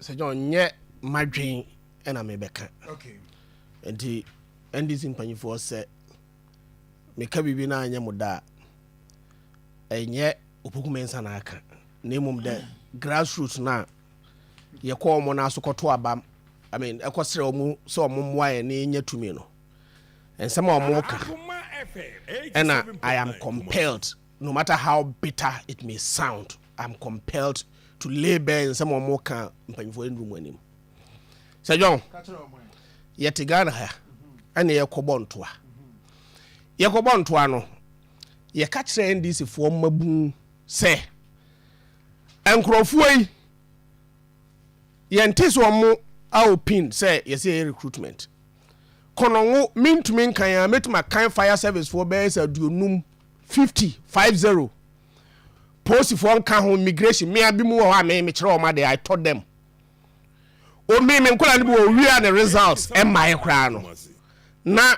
sɛ john nyɛ madwen ɛna mebɛka nti ndc mpanyifoɔ sɛ meka biribi no anyɛ mo da a ɛnyɛ opokume nsa na aka na mmom dɛ grassroots no a yɛkɔ wɔn no aso kɔto abam I mean, ɛkɔsrɛ wɔn sɛ wɔn mmoa yɛn ne yɛnya tumi no nsɛm a wɔka ɛna I am compelled No matter how bitter it may sound, I'm compelled to lay bare nsɛm a wɔka mpanyimfoɔ nnuru mu anim. Sɛ John, yɛte Ghana ha ɛna yɛkɔbɔ ntoa. Yɛkɔbɔ ntoa no, yɛka kyerɛ NDC foɔ mmabun sɛ nkurɔfoɔ yi yɛnte sɛ wɔn aopin sɛ yɛsɛ yɛyɛ recruitment. Kɔnɔngo mentumi nkan a mɛtumi akan fire service foɔ bɛyɛ sɛ aduonum fifty five zero polisifoɔ nka ho immigration mmea bi mu wɔ hɔ a me mekyerɛ wɔn ade i taught them omi me nkɔla no bi wɔ owia ne results ɛmmaeɛ koraa no na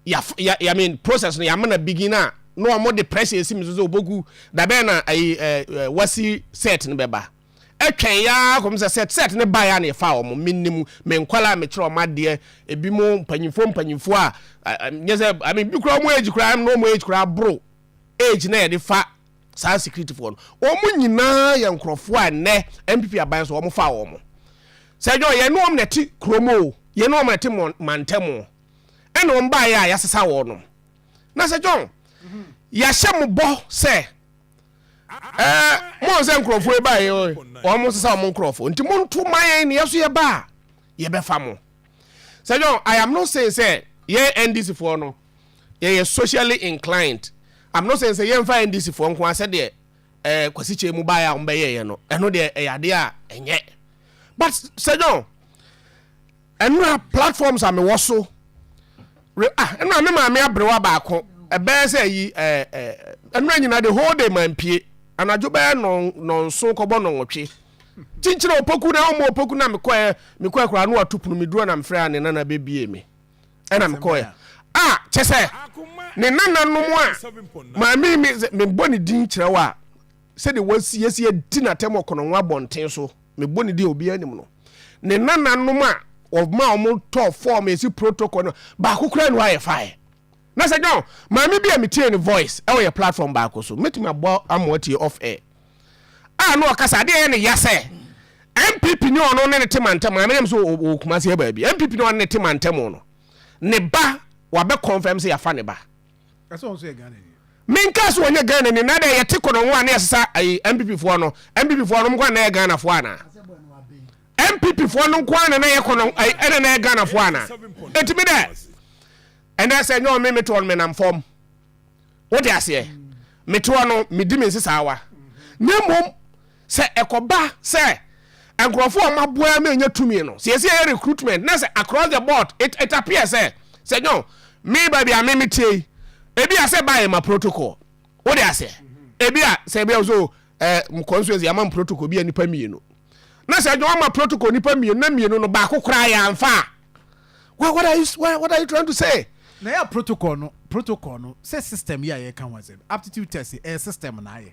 ya ya ya mean process no yɛama na begin a na wɔn de pressure esi mi so sɛ obogu dabɛn na ayi ɛɛ wasi set no bɛba. Ɛtwɛn yɛ ara kɔm sɛ sɛt sɛt no baeɛ a na yɛfaa wɔn. Menim me nkwadaa a mekyerɛ wɔn adeɛ, ebinom mpanimfoɔ mpanimfoɔ a nyɛ sɛ, I mean, bi koraa wɔn age koraa na wɔn age koraa boro age na yɛde fa saa sikiritifoɔ no. Wɔn nyinaa yɛ nkurɔfoɔ a nnɛ NPP aban so wɔfaa wɔn. Sɛ ɛnyɛ wɔn, yɛn ne wɔn na ɛte kurom o, yɛn ne wɔn na ɛte mantam o. Ɛna wɔn baeɛ a yɛasesa wɔn. Na sɛ John, yɛahyɛ mo bɔ sɛ. Eh, moahu sɛ nkurɔfoɔ yi baeɛ oi, wɔn sesa wɔn nkurɔfoɔ, nti monto ma yɛn na yɛn nso yɛba a, yɛbɛfa mo. Sɛ John, I am not saying sɛ yɛn NDC foɔ no, yɛyɛ socially inclined. I'm not saying sɛ yɛmfa NDC foɔ nko ara sɛdeɛ eh, Kwasi Kyei mu baeɛ a wɔbɛyɛeɛ no, ɛno deɛ ɛyɛ adeɛ a ɛnyɛ. But Sɛ John, Nnora platforms a mewɔ so re ah nnora me maame abrewa baako ɛbɛyɛ sɛ ayi ɛɛ ɛɛ nnora nyinaa the whole day mampie anadwo bɛyɛ nɔn nɔnso kɔbɔ nɔnwɔtwe kyinkyin a opoku na ɔmo opoku na mekɔɛ mekɔɛ koraa no ato pono meduro na mefrɛ a ne nana bebie me ɛna mekɔɛ a kyɛ sɛ ne nananom a maame me mebɔ ne din kyerɛ wo a sɛdeɛ wɔasiesie di n'atɛm ɔkɔnɔnwa abɔnten so me bɔ ne din a obiara nim no ne nananom a wɔma wɔn tɔ fɔɔm esi protocol no baako koraa no ayɛ fae na sɛ john maame bi a metie ne voice ɛwɔ yɛ platform baako so metumi abɔ ama watie off air a na ɔkasa adeɛ yɛ ne ya sɛ npp ne ɔno ne ne te mantam maame nam sɛ ɔkuma se yɛ baabi npp ne ɔne ne te mantam no ne ba wabɛ confirm sɛ yafa ne ba Menkaa sɛ ɔnyɛ Ghana ni na dɛ yɛte kɔnɔngo a na yɛsesa ayi MPP foɔ no MPP foɔ no nkoa na yɛ Ghana foɔ anaa MPP foɔ no nkoa na na yɛ kɔnɔngo ayi ɛna na yɛ Ghana foɔ anaa eti me dɛ ɛnɛ sɛ nyɛ ɔme metoɔ no menam fam wote aseɛ metoɔ no medi me nsesawa na mmom Sɛ ɛkɔba sɛ nkurɔfoɔ a wɔaboa ama anya tumi no, sɛ yɛsi yɛyɛ recruitment na sɛ across the board, it it appears sɛ, sɛ nyoo, me baabi a me meteɛ yi, ebi a sɛ ɛba a yɛma protocol. Wode aseɛ? Ebi a sɛ ebi a so eh, mo constituency yɛama mo protocol bi a nipa mmienu. Na sɛ nyoo ama protocol nipa mmienu na mmienu no baako koraa yɛamfa a, what, what, are you, what, what are you trying to say? Na yɛ protocol no, protocol no, sɛ system yi a yɛka ho asɛm, aptitude test yi, ɛyɛ system na ayɛ.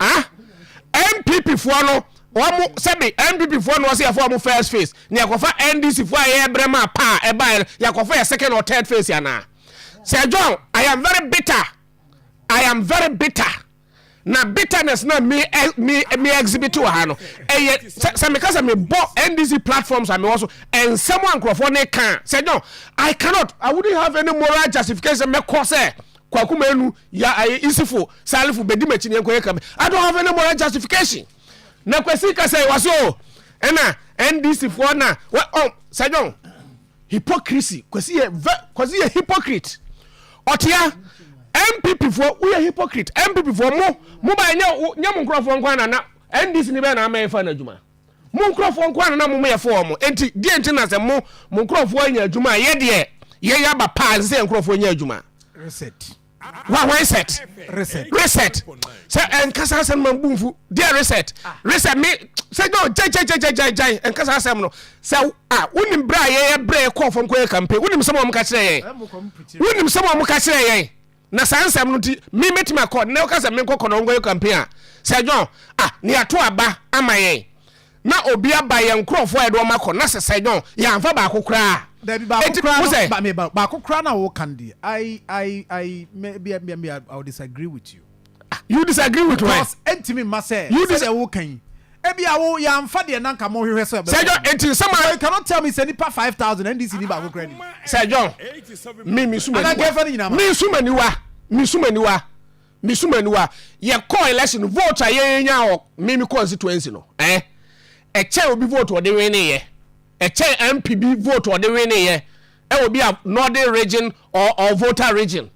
Ah NPP foɔ no wɔn sɛbi NPP foɔ no wɔsi yɛfɔ wɔn first phase na yɛkɔfa NDC foɔ a yɛyɛ brɛ maa paa ɛbaeɛ no yɛkɔfa yɛ second or third phase anaa Sir John I am very bitter I am very bitter na bitterness na mi eh, mi mi exhibit wɔ ha no ɛyɛ sɛ sɛ mi ka sɛ mi bɔ NDC platforms a mi wɔ so nsɛm a nkurɔfoɔ ne kan Sir John I cannot I wouldn't have any moral justification mɛkɔ sɛ. Kwaku Manu, ya aye Isifo, Salifo, bedi m'akyi ne yɛnkɔyɛ kame. I don't have any moral justification. Na Kwesi ka sɛ wase o, ɛna NDC foɔ na wɔ ɔm sɛ John. Hypocrisy, Kwesi yɛ vɛ, Kwesi yɛ hypocrite. Ɔtea, NPP foɔ woyɛ hypocrite, NPP foɔ mo, mo ba nyɛ nyɛ mo nkorɔfoɔ nko ara na na NDC ni bɛyɛ na ama yɛfa no adwuma. Mo nkurɔfoɔ nko ara na na mo yɛfo wɔn, enti deɛ nti na sɛ mo mo nkurɔfoɔ anya adwuma a, yɛ deɛ yɛn aba pa a ɛsɛ sɛ yɛn nkurɔfoɔ nya adwuma? Reset. Wa wɔn set. Reset. Reset. Sɛ ɛnkasa asɛm ma bu mfu. Deɛ reset. Ah. Reset me sɛ no gyan gyan gyan gyan gyan ɛnkasa asɛm no sɛ a wonim berɛ a yɛyɛ berɛ yɛkɔɔ fam kɔyɛ kampe wonim sɛm a wɔn ka kyerɛ yɛn wonim sɛm a wɔn ka kyerɛ yɛn Na saa nsɛm no nti me mɛtumi akɔ na woka sɛ menkɔ kɔnɔ nkɔyɛ campaign a sɛ John ah ne yɛato aba ama yɛn na obi aba yɛn nkurɔfoɔ a yɛde wɔn akɔ na sɛ sɛ John yɛamfa baako koraa Dabi baako Enti koraa wo no sɛ ba me ba baako koraa na woka no deɛ I I I me me me me I will disagree with you. Ah, you disagree with why? Because ɛntumi mma sɛ sɛdeɛ woka yi ebi awo yɛamfa deɛ nanka mo hwehwɛ sɛ ɛbɛkɔ. Sɛ John eti nsɛm a. You cannot tell me sɛ nipa five thousand NDC ni baako kura ni. Sɛ John mi mi suma niwa. Anagɛfɛ ni nyinaa ma. Mi suma niwa mi suma niwa mi suma niwa yɛ kɔ election vote a yɛn nya wɔ mi mi constituency no ɛɛ eh? ɛkyɛn obi vote ɔde win ne yɛ ɛkyɛn MP bi vote ɔde win ne yɛ ɛwɔ bi a northern region or or voter region.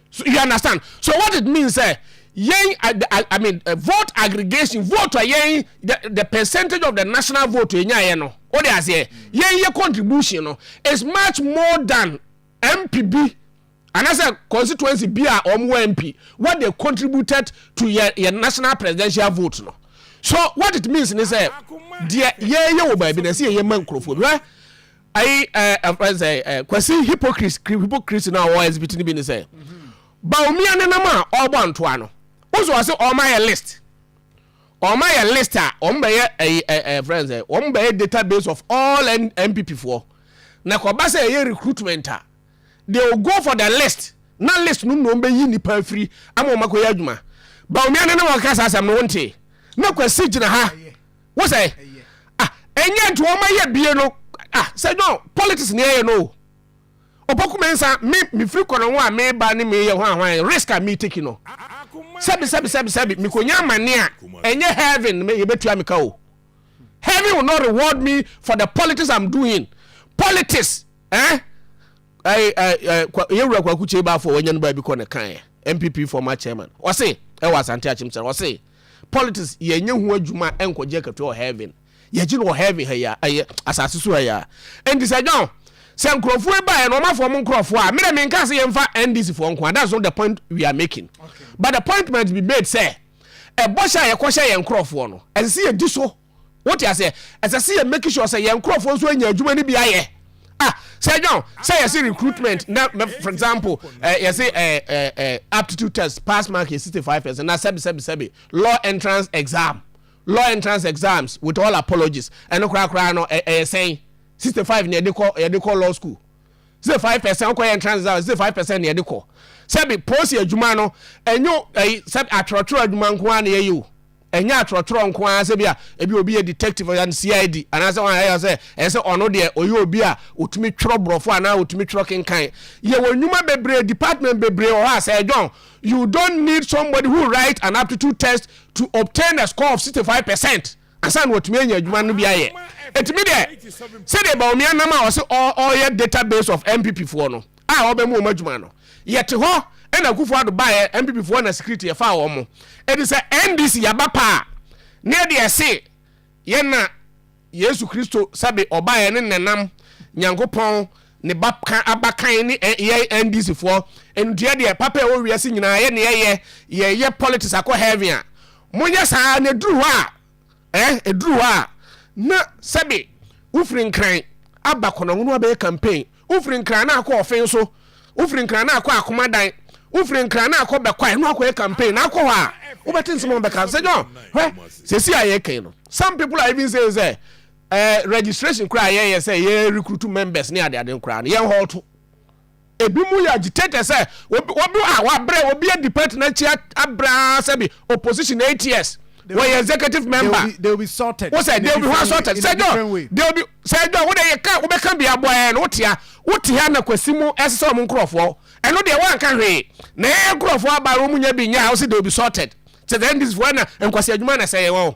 So you understand? So what it means sɛ yɛn I, I, I mean uh, vote aggregation vote a yɛn the, the percentage of the national vote yɛn nyɛ no o de aseɛ yɛn yɛ contribution no is much more than MP bi anaasɛ constituency bi a wɔn wɔ MP what they contributed to yɛ yɛ national presidential vote no so what it means ni sɛ deɛ yɛn yɛ wɔ baabi na ɛsɛ yɛn yɛ ma nkurɔfoɔ bi hɛ. Ayi ɛɛ ɛfrɛ nsɛ ɛɛ Kwasi hypocrisy hypocrisy na ɔwɔ exhibit ni bi ni sɛ Bawumia nenam a ɔrebɔ antoa no wosɔ ɔse ɔmo ayɛ list ɔmo ayɛ list a ɔmo bɛyɛ ɛyi ɛɛ ɛfrɛ nsɛ ɔmo bɛyɛ database of all NPP foɔ na kɔba sɛ ɛyɛ recruitment a they will go for the list na list no mu na ɔmo bɛyi nipa afiri ama ɔmo akɔyɛ adwuma Bawumia nenam ɔkeka saa asɛm no wontee na Kwasi gyina ha. wo sɛ ah ɛnyɛ nti wɔn ayɛ bie no ah sɛ no politics ni ɛyɛ no ɔpɔku mi nsa mi mi firi kɔnɔ ho a mi ba ne mi yɛ hwan hwan risk a mi take no sɛbi sɛbi sɛbi sɛbi mi ko nya amane a ɛnyɛ heaven mi yɛ bɛ tua mi ka o heaven will not reward me for the politics i'm doing politics ɛn. Eh? yɛwura kwaku kyei baafo wɔanya no baabi kɔ ne kaeɛ mpp former chairman ɔse ɛwɔ asante akyem sɛ ɔse Politics yɛ nyɛ ho adwuma nkɔ gye akatua wɔ heaven yɛ gye no wɔ heaven ha yi a ɛyɛ asase so ha yi a ɛnti sɛ John sɛ nkurɔfoɔ yi baeɛ no wɔn afɔ wɔn nkurɔfoɔ a mena me nka sɛ yɛn fa NDC foɔ nko a that's not the point we are making okay. but the point might be made sɛ ɛbɔ hyɛ a yɛkɔ hyɛ yɛn nkurɔfoɔ no ɛsɛ sɛ yɛ di so Wote aseɛ? Ɛsɛ sɛ yɛ make sure sɛ yɛn nkurɔfoɔ nso anya adwuma no bi ayɛ. Ah, sɛ now, sɛ yɛse recruitment, na for example, eh, yɛse eh, eh, eh, aptitude test, pass mark yɛ 65%, na sɛbi sɛbi sɛbi, law entrance exam, law entrance exams, with all apologies, ɛno koraa koraa no, ɛyɛ eh, eh, sɛn, 65 na yɛde kɔ, yɛde kɔ law school. sɛ five percent kɔ yɛn trans down sɛ five percent na yɛde kɔ sɛbi pɔsi adwuma no ɛnyɛ ɛyi sɛbi atwerɛtwerɛ adwuma nko ara na yɛyɛ o. Ɛnyɛ atwerɛtwerɛ nko ara sɛ bi a ebi obi yɛ detective ɔyɛ no CID anaasɛ wɔn ayɛ sɛ ɛyɛ sɛ ɔno deɛ ɔyɛ obi a ɔtumi twerɛ borɔfo anaa ɔtumi twerɛ kenkan yɛwɔ nnwuma bebree department bebree wɔ hɔ a Sir John you don't need somebody who write an aptitude test to obtain a score of 65 percent ansa na ɔtumi anya adwuma no bi ayɛ ɛtumi deɛ sɛdeɛ Bawumia nam a ɔse ɔyɛ database of MPP foɔ no a wɔbɛma wɔn adwuma no, yɛte hɔ ɛna Akufo Addo baeɛ, NPP foɔ na security yɛfaa wɔn mo. Ɛti sɛ NDC yɛaba paa a, na yɛde ɛse yɛn na Yesu Kristo sɛbe ɔbaeɛ ne Nenam Nyankopɔn ne ba kan abakan ne yɛn NDC foɔ. Ndeɛ deɛ papa ɛwɔ wiase nyinaa yɛ ne yɛyɛ, yɛyɛ politics akɔ heaven a, monyɛ saa na ɛduru hɔ a, eh, ɛduru hɔ a na sɛbe wofiri Nkran aba Kɔnɔngono abɛyɛ campaign, Wofiri Nkran na akɔ Ɔfen so, wofiri Nkran na akɔ Akoma dan, wofiri Nkran na akɔ Bɛkwae na wakɔyɛ campaign na akɔ hɔ a, wobɛte nsɛm a wɔbɛka. Sɛ John, hwɛ, seesei a yɛreka yi no, some people are even saying sɛ, eh, registration koraa a yɛyɛ sɛ yɛ recruit members ne adeade no koraa no, yɛn hɔɔto. Ebinom yɛ agitated sɛ obi, obi a wabrɛ, obi adi party no akyi abrɛ ara sɛ bi opposition eight years wɔyɛ executive member wosɛ they will be ho assorted sɛ dɔ they will be sɛ dɔ wo de yɛ ka wobɛka bi aboa yɛ no wotia wote ha na kwasi mu ɛsesɛ wɔn nkurɔfoɔ ɛno deɛ wɔanka hwee na yɛyɛ nkurɔfoɔ aba wɔn mu nya bi nya a wosɛ they will be sorted sɛ the ndc foɔ na nkwasi adwuma na sɛ yɛ wɔn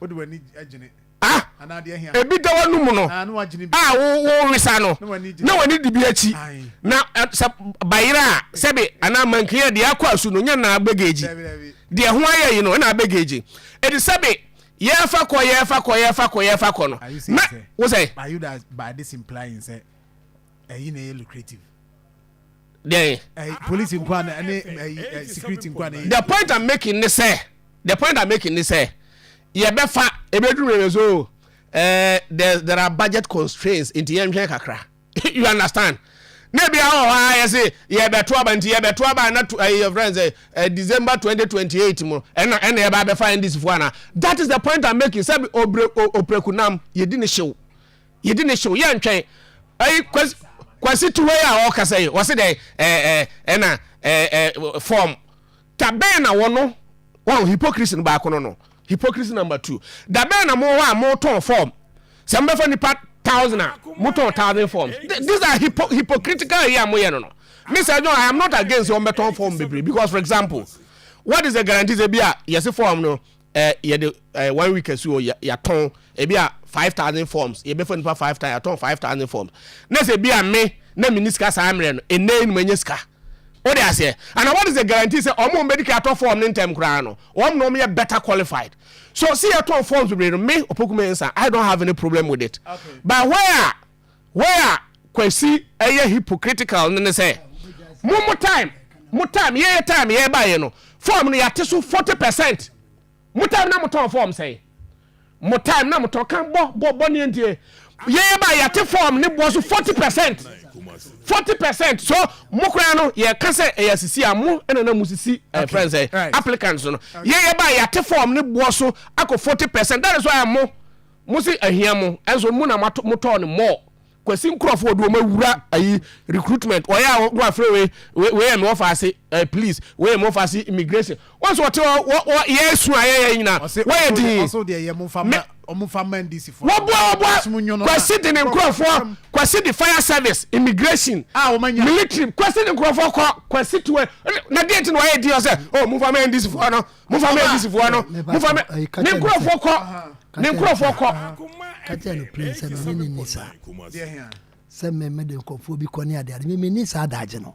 wode w'ani gyene ah ebi da w'ano mu no a ah, wowesa no na w'ani di bi akyi na eh, sɛ bayerɛ a sɛbe anaa mankin a deɛ akɔ asu no nyɛ naa bɛgɛgyi deɛ ho ayɛ yi no ɛna abɛgɛgyi ɛde sɛbe yɛfa kɔ yɛfa kɔ yɛfa kɔ yɛfa kɔ no na wo sɛ ɛyi na ɛyɛ lucrative deɛ. Eh, police nkwa na ɛne eh, eh, security nkwa na. the point i'm making ne sɛ the point i'm making ne sɛ yɛbɛfa ebeduru bebe so eh, there there are budget constraints nti yɛn nhwɛn kakra you understand na ebi ahɔ hɔ ayɛ se yɛbɛto aba nti yɛbɛto aba na to ɛyɛ friends ɛ ɛ december twenty twenty eight mu ɛna ɛna yɛba abɛfa ndc fo ana that is the point i'm making sɛ obre oprekunam yɛdi ne hyew Yɛdi ne hyew yɛntwɛn. Ɛyi kwasi kwasi tuwe a ɔkasa yi ɔse dɛ ɛɛ ɛɛ ɛna ɛɛ ɛɛ form da bɛn na wɔno wɔn hypocrisy no baako no no hypocrisy number two da bɛn na mo hɔ a mo tɔn form sɛ mo bɛfa nipa thousand a mo tɔn thousand forms these are hypo hypocritical yi a mo yɛ no no me sɛ no I am not against wɔn bɛ tɔn form bebree because for example what is the guarantee sɛ bi a yɛsi form no Ɛ yɛde ɛ one week asi hɔ yɛ yɛatɔn ebi a five thousand forms yɛbɛfa nipa five thousand yɛatɔn five thousand forms na sɛ ebi a me na mi ni sika saa mmerɛ no nnɛ yi na manya sika o de aseɛ and what is the guarantee sɛ wɔn a wɔn bɛdi kan atɔ form ne ntɛm koraa no wɔn na wɔn yɛ better qualified so sɛ yɛtɔn forms bebree no me Opoku Mensah I don't have any problem with it okay. but where a Wei a Kwasi ɛyɛ hypocritical no ne sɛ, mo mo time, mo time, yɛn time yɛ ba yɛ no, form no yɛate so 40%. Mo time na mo tɔn form sɛn? Mo time na mo tɔn kan bɔ bɔ bɔ ne ndie. Yɛn ba yɛate form ne boɔ so 40%. 40% so mo koraa no yɛka sɛ ɛyɛ asisi a mo ɛna na mo sisi eh, okay. friends eh, right. applicants no. Yɛn ba yɛate form ne boɔ so akɔ 40%. That is why mo Mo se ahia mo nso mo na mo tɔɔ no more. Kwasi nkurɔfo ɔde wɔn awura ayi recruitment wɔyɛ a wɔn afrɛ wei wei yɛ me wɔfa ase eh, police wei yɛ me wɔfa ase immigration wɔn nso wɔte hɔ wɔ wɔ yɛ esu ayɛ yɛ nyina wɔyɛ din me wɔboa wɔboa kwasi de ne nkurɔfo kwasi de fire service immigration military kwasi de nkurɔfo kɔ kwasi tuwe na deɛ ti na wɔyɛ din ɔsɛ oh mo fa ma ndc fo no. momfa me agisifoɔ no momfa me ne nkurɔfoɔ kɔ ne nkurɔfoɔ kɔ ka kyerɛ no plen sɛ mene ne ni saa sɛ meme de nkurɔfoɔ bi kɔ ne adeade meme ni saa daagye no